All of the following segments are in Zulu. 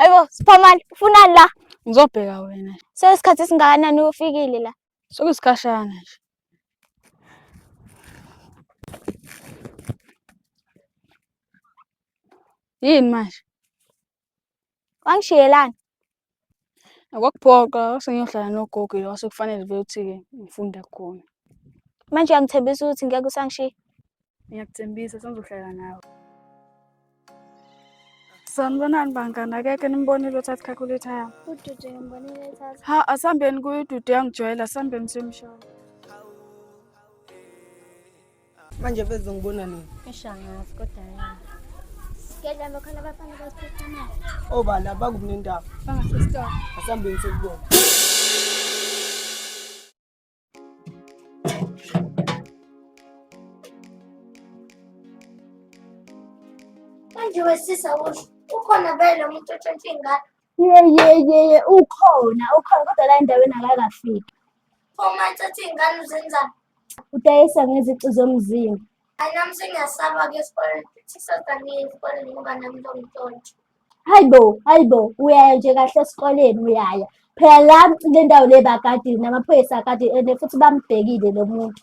Ayibo Siphamani ufunani la? Ngizobheka wena. Sesikhathi esingakanani ufikile la? Sokusikhashana nje. Yini manje? wangishiyelani akwakuphoqa sengiyohlala nogogo lo sekufanele vele ukuthi-ke ngifunde khona manje uyangithembisa ukuthi ngeke usangishiya ngiyakuthembisa sengizohlala nawe sanibonani bangani akekho nimbonile uthatha calculator yami udude ngimbonile ethatha ha asihambeni kuyo udude yangijwayela asihambeni semshana manje veze ngibona nini ishangazi kodwa yena Ngedla lokho abafana basiphethe imali. Obala bakukunendaba. Bangasesitolo. Asambeni sekubona. Manje wesisa usho ukhona vele umuntu otshontsha ingane Yeyeyeye ukhona ukhona kodwa la endaweni akakafiki. Phuma thatha iy'ngane uzenza. Udayisa ngezici zomzimba. Hayi nami sengiyasaba ke esikoleni futhi sazaniye esikoleni ngoba nami lo mntotho. Hayi bo, hayi bo, uyaya nje kahle esikoleni uyaya. Phela la le ndawo le bakadile namaphoyisa akadile and futhi bambhekile lo muntu.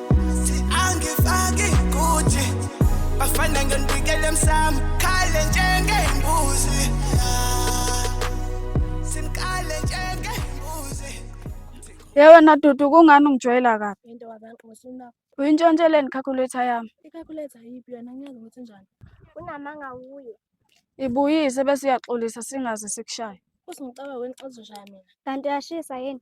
angifaki kuthi bafana ngendikele msam khale njengembuzi simkale njengembuzi Yewe na dudu kungani ungijwayela kabi? Into wabantu ngosuna. Uyintshontsheleni calculator yami? I-calculator yipi yona ngiyazi ukuthi njani. Unamanga wuye. Ibuyise bese uyaxolisa singaze sikushaye. Usingicaba wena xazoshaya mina. Kanti uyashisa yini?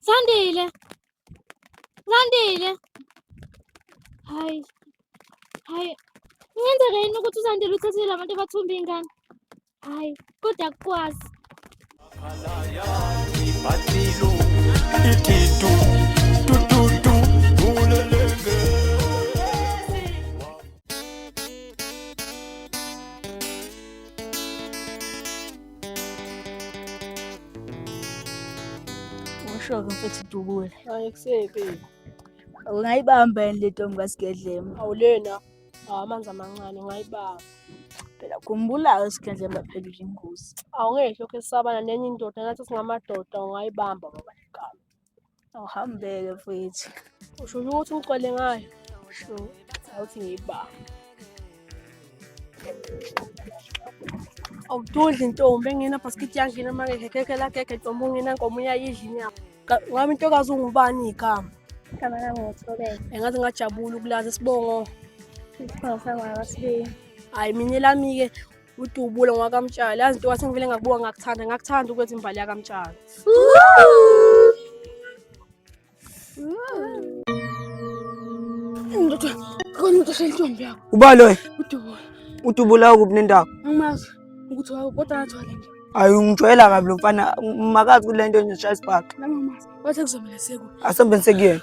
Sen de eyle. Sen de eyle. Hay. Hay. Ngenzeka yini ukuthi uzandile uthathele abantu abathumba ingane? Hayi, kodwa akukwazi. Usho-ke mfethu Dubula. Hayi kusepi. Ungayibamba yini le ntombi kaSigedlema? Awulena. Awamanzi amancane ungayibamba. Phela khumbula-ke uSigedlema phela uyingozi. Awungehlo ke sabana nenye indoda nathi singamadoda ungayibamba baba igama. awuhambeke mfowethu usho ukuthi ucwele ngayo usho awuthi ngiyiba awududli ntombi engena bhaskithi yangena manje ngekeke lagege ntombi ungena nkomo uyayidla inyama ngami intokazi ungubani igama igama lami ngotholele engathi ngajabula ukulazi isibongo isibongo sangwakasibili hhayi mina elami-ke udubula ngwakamtshali yazi nto wasengivele ngakubuka ngakuthanda ngakuthanda ukwenza imbali yakamtshali ndoda khona umuntu osentombi yakho uba loyo udubula udubula ukuphi nendawo angimazi ukuthi wawo kodwa ngathwala nje ayi ungijwayela kabi lo mfana makazi kule nto nje shaya isibhaxu nami angimazi wathe kuzomele seku asombe nisekuyena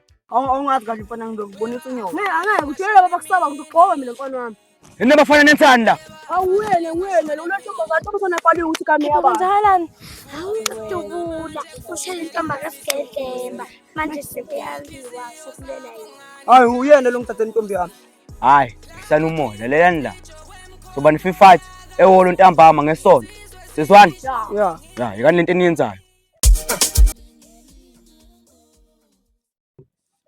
Awungazi kahle mfana ngizokubonisa inyoko. Ne angeke uthulele baba kusaba ngizogqoka mina mfana wami. Yini abafana nensani la? Awuyene wena lo lwashomba ngathi umfana abhaliwe ukuthi kami yaba. Kwenzakalani? Hawu dubula. Ushela intomba kaSigelemba. Manje sekuyaliwa sokulela yini? Hayi uyena lo ngithathe intombi yami. Hayi, hlala umoya lalelani la. Soba nififathi eholo ntambama ngesonto. Sizwani? Yeah. Yeah, yekani lento eniyenzayo.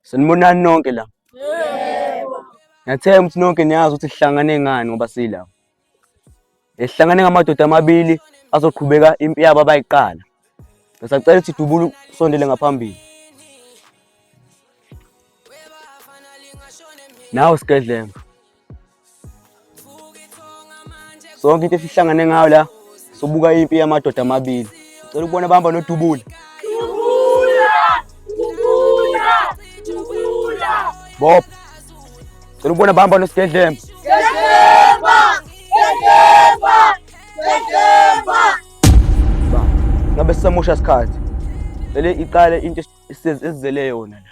Sanibonani nonke la. Ngiyathemba ukuthi nonke niyazi ukuthi sihlangane ngani ngoba sila. Sihlangane ngamadoda amabili azoqhubeka impi yabo abayiqala. Ngisacela ukuthi dubulu sondele ngaphambili. Nawe Skedlembe. sonke into esihlangane ngayo la sobuka impi yamadoda amabili cela ukubona bahamba nodubula bob cela ukubona bahamba nosigedlemba ngabe sisamosha sikhathi vele iqale into esizele yona la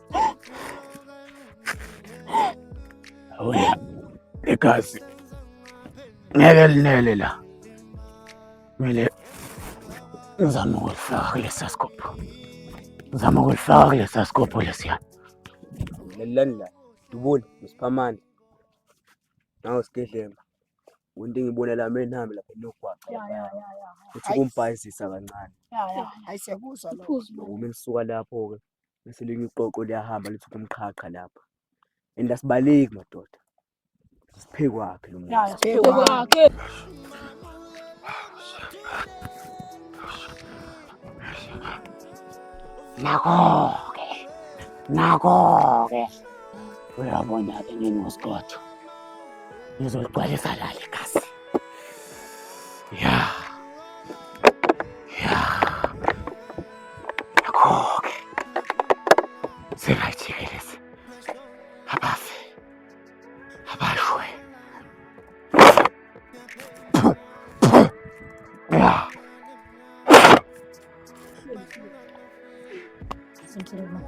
Awuya igazi ngeke linele la, kumele ngizame ukulifaka kulesa sikopho, ngizame ukulifaka kulesa sikopho lesiya. Lalelani la, Dubula, Msiphamane, nawe Sigelemba into engibona la mina nami lapha nogwaqa uthi kumbhayizisa kancane uma lisuka lapho-ke bese elinye iqoqo liyahamba lithi kumqhaqha lapha and asibaleki madoda siphekwakhe lo muntu siphekwakhe nako-ke nako-ke uyabona-ke nginosiqotho ngizoligcwalisa lali igazi ya yeah. Akho-ke singayijikelezi abafi abashwe ya Thank you.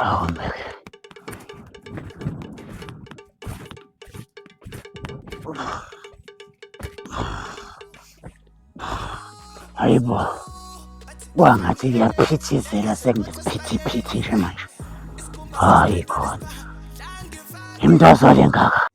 Oh man. Hayi bo. Kwangathi kuyaphithizela sekunephithiphithi nje manje. Hayi khona. Imntazwa lengaka.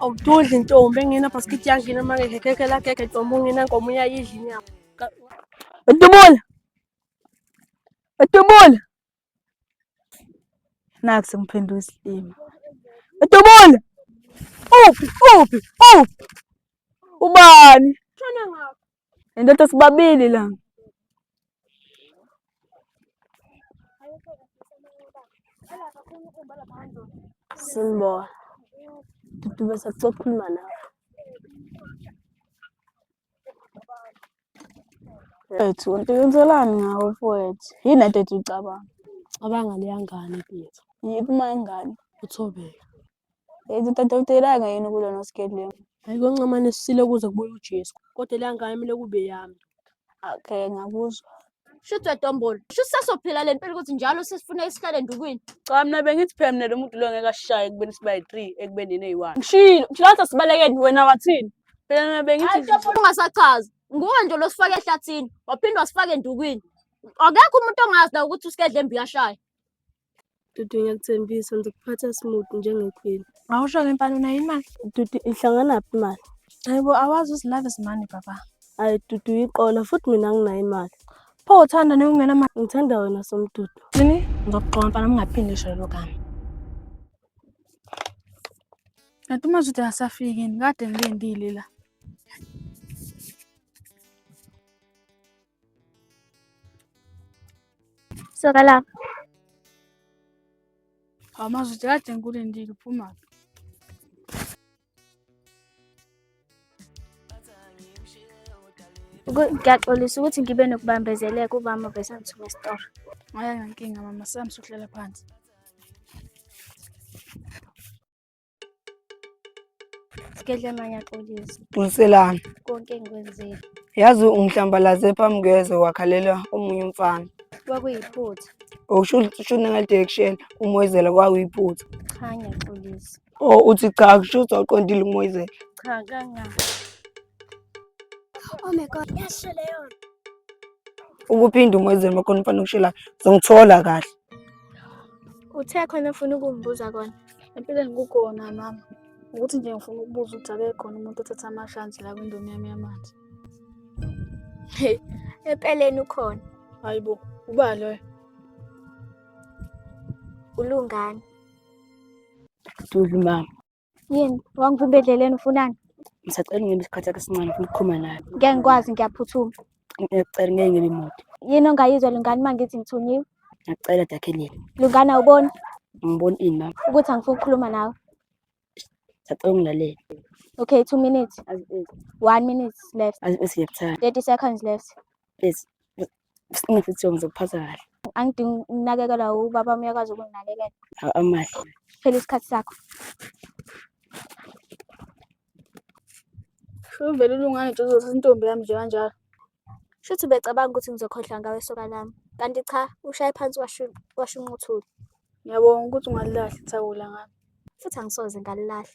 awududli ntombi engena bhaskithi yangena uma ngekhekhe lakekhe ntombi ungena nkomo uyayidla inyama dubula Udubula. Naku sengiphendula isilima. Udubula. Uphi uphi uphi. Ubani? Tshona ngapha. Indoda sibabili la. Simbola. Dudu bese kuzokhuluma nawe. Mfowethu, uqikelani ngawe mfowethu? Yini ade ethi ucabanga? Cabanga leya ngane Peter. Yiphi uma ingane? Uthobeka. Ethi utadawutelanga yini kulona skedleni? Hayi koncamane sisile kuze kubuye uJesu. Kodwa leya ngane kumele kube yami. Okay, ngakuzwa. Shuthi wedombolo. Shuthi sasophila le mpilo ukuthi njalo sesifuna isihlale endukwini. Cha mina bengithi phela mina lo muntu lo ngeke ashaye ekubeni siba yi-3 ekubeni yena eyi-1. Ngishilo, ngishilo ngathi asibalekeni wena wathini? Phela mina bengithi Hayi dombolo ungasachazi. Nguwe nje lo sifake ehlathini, waphinde wasifaka endukwini. Akekho umuntu ongazi la ukuthi usikedle embi uyashaya. Dudu ngiyakuthembisa ngizokuphatha smooth njengequeen. Awusho ke mfana unayo imali? Dudu ihlanganaphi imali? Hayibo awazi uzilove simani baba. Hayi Dudu iqola futhi mina nginayo imali. Pho uthanda nokungena mali. Ngithanda wena somdudu. Yini? Ngizokuxoxa mfana ungaphindi isho lelo gama. Kanti uma uthi asafiki yini kade ngilindile la. Soka lapha. Amazuthi kade ngikulindile uphuma. Ngiyaxolisa ukuthi ngibe nokubambezeleka ubama besangithume esitoro. Ayinankinga mama, sami sokuhlala phansi. Sigehlana ngiyaxolisa Qiniselani. konke engikwenzile. Yazi ungihlambalaze phambi kwezwe wakhalela omunye umfana. Kwakuyiphutha. Usho usho nangale direction umoyizela kwakuyiphutha. Cha ngiyaxolisa. Oh uthi cha kusho ukuthi awuqondile umoyizela. Cha kanga. Oh my god, yasho leyo. Ukuphinda umoyizela makhona umfana okushelayo. Zongithola kahle. Uthe khona ufuna ukungibuza kona. Empilweni kukhona mama. Ukuthi nje ngifuna ukubuza ukuthi akekho khona umuntu othatha amashansi la kwindomi yami yamanzi. Hey, empeleni ukhona. Hayibo, uba loyo. Ulungani. Dudu mama. Yini? Wangivimba edleleni ufunani? Ngisacela ungebe isikhathi sakho esincane ufuna ukukhuluma naye. Ngeke ngikwazi ngiyaphuthuma. Ngiyacela ngeke ngebe mude. Yini ongayizwa lungani uma ngithi ngithunyiwe? Ngiyacela Dakhelile. Lungani awuboni Ngibona ini mama? ukuthi angifuni ukukhuluma nawe? Ngiyacela ungilalele. Okay, two minutes. One minute left. Azi bese ngiyakuthanda. 30 seconds left. Please. Nginesidingo ngizokuphatha kahle. Angidingi ukunakekelwa ubaba wami uyakwazi ukunginakekela. Awu amahle. Phela isikhathi sakho. Uvele ulungane nje uzothi intombi yami nje kanjalo. Shuthi ubecabanga ukuthi ngizokhohlwa ngawe soka lami. Kanti cha, ushaye phansi washu- washunquthula. Ngiyabonga ukuthi ungalilahli ithawula ngami. Futhi angisoze ngalilahla.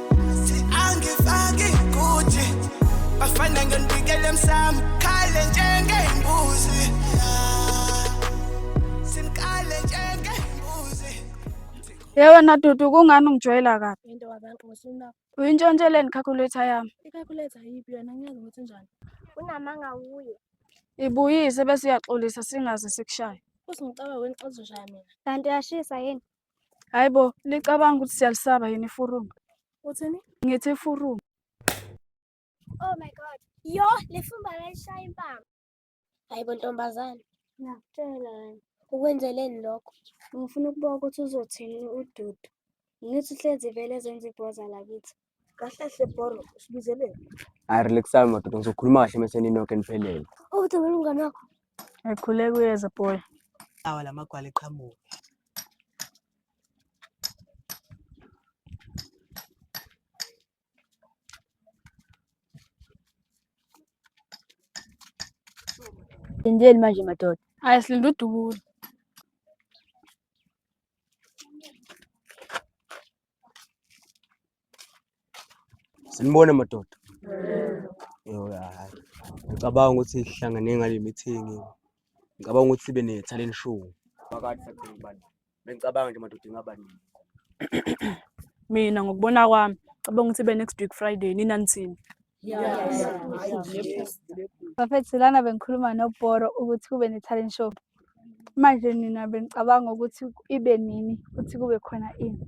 Yewe nadudu kungani ungijwayela kabi? Into wabantu ngosuna. Uyintshontsheleni calculator yami? I-calculator yiphi yona ngiyazi ukuthi njani. Unamanga wuye. Ibuyise bese uyaxolisa singaze sikushaye. Usingicaba wena xazoshaya mina. Kanti uyashisa yini? Hayi bo, licabanga ukuthi siyalisaba yini ifurumu. Uthini? Ngithi ifurumu. Oh my god. Yo, lifumba layishaya impama. Hayi bo ntombazane. Ngiyakutshela wena. Ukwenzeleni lokho? Ngifuna ukubuka ukuthi uzothini uDudu. Ngithi uhlezi vele ezenza ibhoza lakithi. Kahle hle boro usibizeleni. Hayi relax hayi madoda ngizokhuluma kahle mese ninoke niphelele. Oh thabela umngane wakho. Ekhuleka uyeza boy. Awa lamagwala eqhamuka. Lindeni manje madoda. Hayi silinde udubula. Sinibone madoda. Yo hayi. Ngicabanga ukuthi sihlangane ngale meeting. Ngicabanga ukuthi sibe ne talent show. Phakathi sakubona ubani. Bengicabanga nje madoda ingaba nini. Mina ngokubona kwami cabanga ukuthi be next week Friday nina nithini? Bafethu lana bengikhuluma nobhoro ukuthi kube ne-talent show manje nina benicabanga ukuthi ibe nini futhi kube khona ini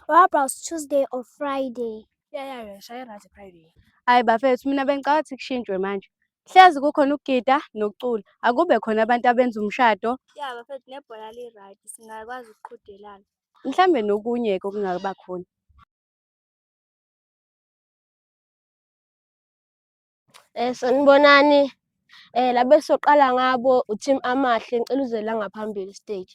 What about Tuesday or Friday? Yeah, yeah, yeah. Shaya right Friday. Hayi bafethu mina bengicabanga ukuthi kushintshwe manje hlezi kukhona ukugida nokucula akube khona abantu abenza umshado Yeah, bafethu nebhola li-right singakwazi ukuqhudelana. mhlambe nokunye-ke okungaba khona Eh sanibonani. Eh la besoqala ngabo uTeam Amahle ngicela uze la ngaphambili stage.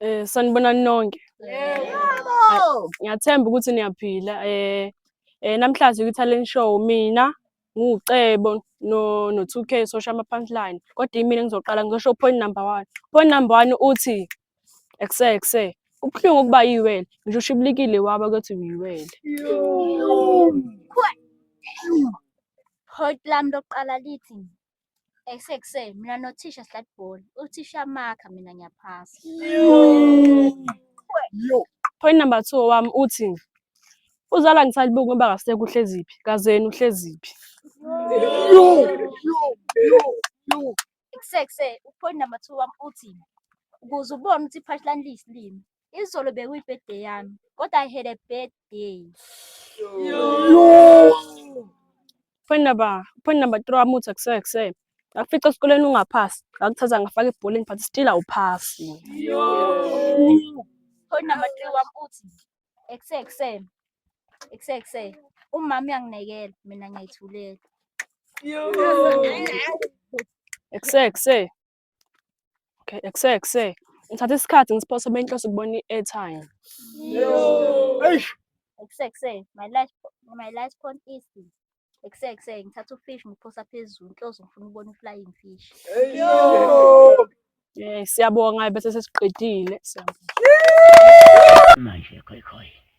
Eh sanibonani nonke. Yebo. Ngiyathemba ukuthi niyaphila. Eh eh namhlanje kwi-talent show mina ngucebo no no 2k sosho ama punchline kodwa imina ngizoqala ngizosho point number one point number one uthi ekuse ekuse kubuhlungu ukuba yiwele ngisho ushibilikile waba kuthi uyiwele Point lami lokuqala lithi esekuseni mina nothisha sidlala ibhola uthisha amakha mina ngiyaphasa Point number two wami uthi uzala ngisalibuki ngoba kasekho uhleziphi kazeni uhleziphi kusekuse upoint number two wami uthi ukuze ubone ukuthi i-punchline liyisilimi izolo bekuyibirthday yami kodwa i had a bad day Phone number, phone number 3 wamuthi akuseke kuseke. Ngakufica esikoleni ungaphasi. Ngakuthatha ngafaka ebholeni but still awuphasi. phone number 3 wami uthi ekusese ekusese umama uyanginekela mina ngiyithulela Ekuseke kuseke. Okay, ekuse ekuse. Ngithatha isikhathi ngisiphosa benhloso ukubona i-airtime. Eish. Ekuse ekuse. My last my last point is ekuse ekuse ngithatha ufish ngiphosa phezulu inhloso ngifuna ukubona i-flying fish. Eh, siyabonga bese sesiqedile. Siyabonga. Manje khoi khoi.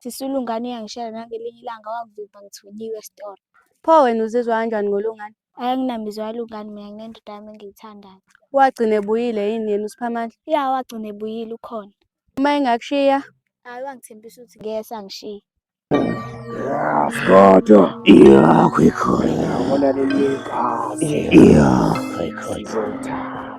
Sisi uLungani uyangishela nangelinye ilanga wangivimba ngithunyiwe esitolo. Pho wena uzizwa kanjani ngolungani? Ayi anginamizwa yalungani mina nginendoda yami engiyithandayo. Wagcina ebuyile yini yena uSiphamandla? Ya wagcina ebuyile ukhona. Uma engakushiya Ayi wangithembisa ukuthi ngeke sangishiya. Kodwa Yakho ikhona. Yabona leli gazi. Yakho ikhona. Izotha.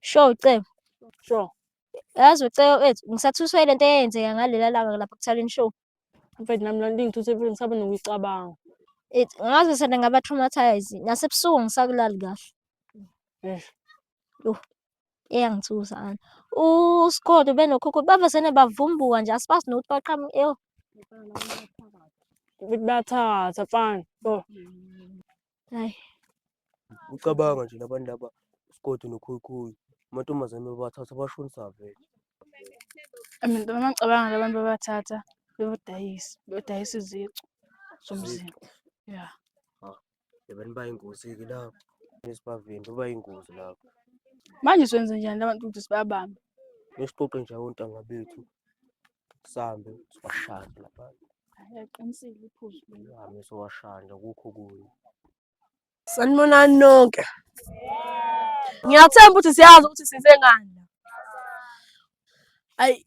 Sure Cebo. Sure. Yazi uCebo wethu ngisathuswe lento eyenzeka ngalela langa lapha kuthaleni show. Mfethu nami lento ingithuse impilo ngisaba nokuyicabanga. It ngaze sena ngaba traumatized. Nasebusuku ngisakulali kahle. Eish. Eyangithusa ana. USigodo benokhokho bavesene bavumbuka nje asibazi nokuthi baqhamu eyo. Ukuthi bayathatha mfana. Yho. Hayi. Ucabanga nje labantu laba uSigodi noKhuyikhuyi amantombazane babathatha bashonisa vele. Abantu bamacabanga labantu babathatha bebodayisa, bebodayisa izicu zomzimba. Ya. Abantu bayingozi-ke lapho esibavimbi bayingozi lapho. Manje senze njani labantu ukuthi sibabambe? Besixoxe nje ontanga bethu sambe siwashande lapha ayaqinisile iphuzu lami siwashande kukho kuyo sanibonani nonke ngiyathemba ukuthi siyazi ukuthi size ngani ayi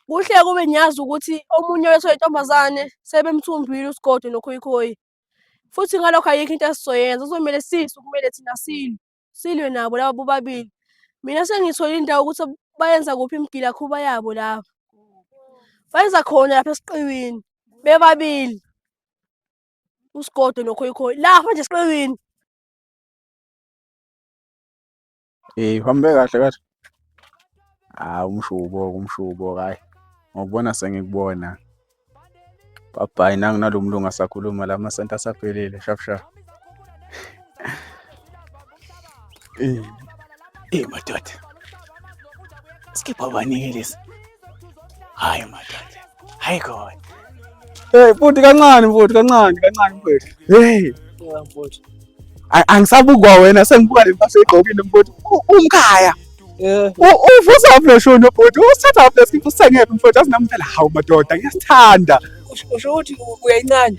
kuhle kube ngiyazi ukuthi omunye wethu oyintombazane sebemthumbile usigodo nokhoyikhoyi futhi ngalokho ayikho into esizoyenza kuzomele sisu kumele thina silwe silwe nabo laba bobabili mina sengithole indawo ukuthi bayenza kuphi imigilakhuba yabo laba bayenza khona lapha esiqiwini bebabili usigodo nokhoyikhoyi lapha nje esiqiwini Eh, uhambe kahle kahle. Hayi umshubo umshubo hayi ngokubona sengikubona. Bhabhayi nangu nalo mlungu asakhuluma la masenti asaphelile shap shap. Eyi madoda. Skipha baningi lesi. Hayi madoda. Hayi God. Hey futhi kancane futhi kancane kancane mfethu. Hey. Yeah mfethu. Angisabukwa wena sengibuka le mpahla egqokile mfethu. Umkhaya. Yeah. Uvusa operation mfethu. Usithatha operation usengephi mfethu azinamphela hawu madoda ngiyasithanda. Usho ukuthi uyayincane.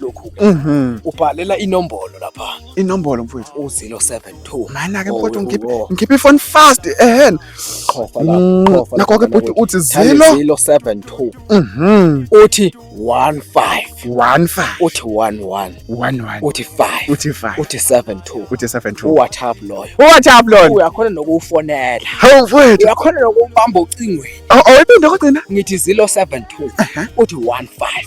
lokhu Mhm. ubhalela inombolo lapha Inombolo mfowethu. u-072 Mana ke Oh, mfowethu oh, ngikhiphe oh. ngikhiphe ifoni fast ehhen. qhofa Mm, lapha qhofa nakho ke lapha bhuti nakuthi. uthi Thandi zero. 072 Mhm. uthi 15 One five. uthi 11 One one. uthi 5 Uthi five. uthi 72 Uthi seven two. uwhatsapp loyo What up Lord? uyakhona nokuwufonela Hawu mfowethu. uyakhona nokubamba ocingweni Oh, oh iphinde kodwa na? ngithi 072 uthi 15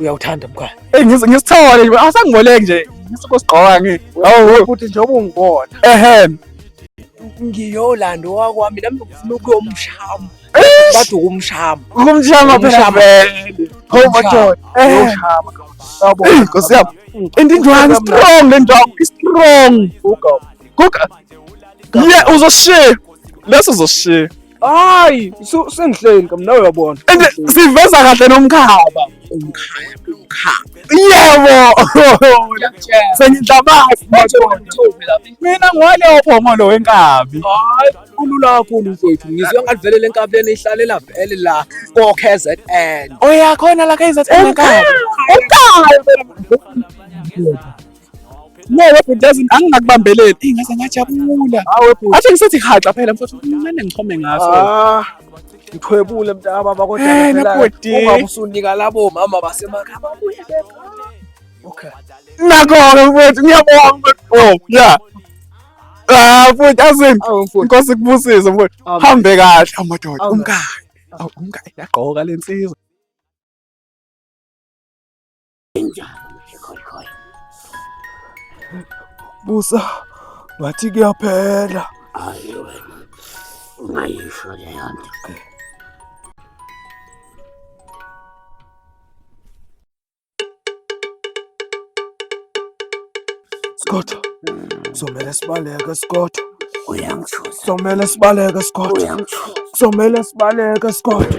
uyawuthanda mkhaya eyi ngisithole nje asangiboleki nje ngisikosigqoka ngi futhi njengoba ungibona ehe ngiyolanda owakwami nami ngifuna ukuyomshama bathi ukumshama ukumshama phela vele hawu madoda uyoshama yabo nkosi yami and indwangu strong le ndwangu istrong guga guga ye uzoshiya leso uzoshiya hayi su- sengihleli kam nawe uyabona And siveza kahle nomkhaba. Umkhaya, umkhaya. Yebo. Sengidlabazi madoda. Mina ngwale ophongolo wenkabi. hayi kulula kakhulu mfowethu ngizwe ngathi vele le nkabi lena ihlalela vele la ko-kzn Oyakhona la KZN wenkabi. Umkhaya. No, webhuti doesn't angingakubambeleli. Eyi ngaze ngajabula. Hawu webhuti. Athi ngisethi haxa phela mfowethu ngimane ngichome ngaso. Ah. Ngithwebule mntaka baba kodwa hey, eh, nabhuti. Ungabe usunika labo mama basemakhaya babuye beka. Okay. Nakho-ke mfowethu ngiyabonga mfowethu. Oh, yeah. Ah, mfowethu azini. Inkosi kubusise mfowethu. Hambe kahle amadoda. Umkayo. Awu umkayo yagqoka lensizwa. Busa ngathi kuyaphela. Hayi wena. Ungayisho leyo nto. Skotho. Somele sibaleke Skotho. Uyangithusa. Somele sibaleke Skotho. Uyangithusa. Somele sibaleke Skotho.